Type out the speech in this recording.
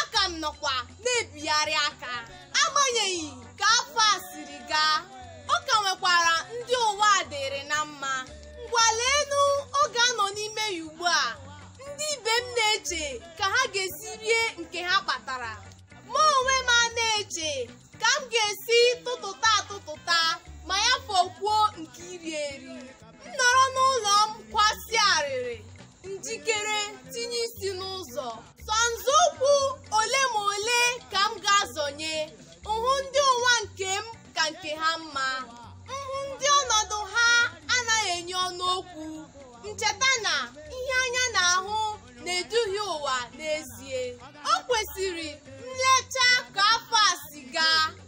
a ka m nọkwa na-ebigharị aka agbanyeghị ka afọ a siri gaa ọ ka nwekwara ndị ụwa a dịrị na mma ngwa leenụ oge a nọ n'ime ya ugbu a ndị ibe m na-eche ka ha ga-esi rie nke ha kpatara mụ onwe m a na-eche ka m ga-esi tụtụta atụtụta ma ya fọkwuo nke iri eri m nọrọ n'ụlọ m kwasịa arịrị njikere tinye isi n'ụzọ sọ nzọụkwụ ole ma ole ka m ga-azọnye m hụ ndị ụwa nke m ka nke ha mma m hụ ndị ọnọdụ ha anaghị enye ọnụ okwu m cheta na ihe anya na-ahụ na-eduhie ụwa n'ezie o kwesịrị nlecha ka afọ a si gaa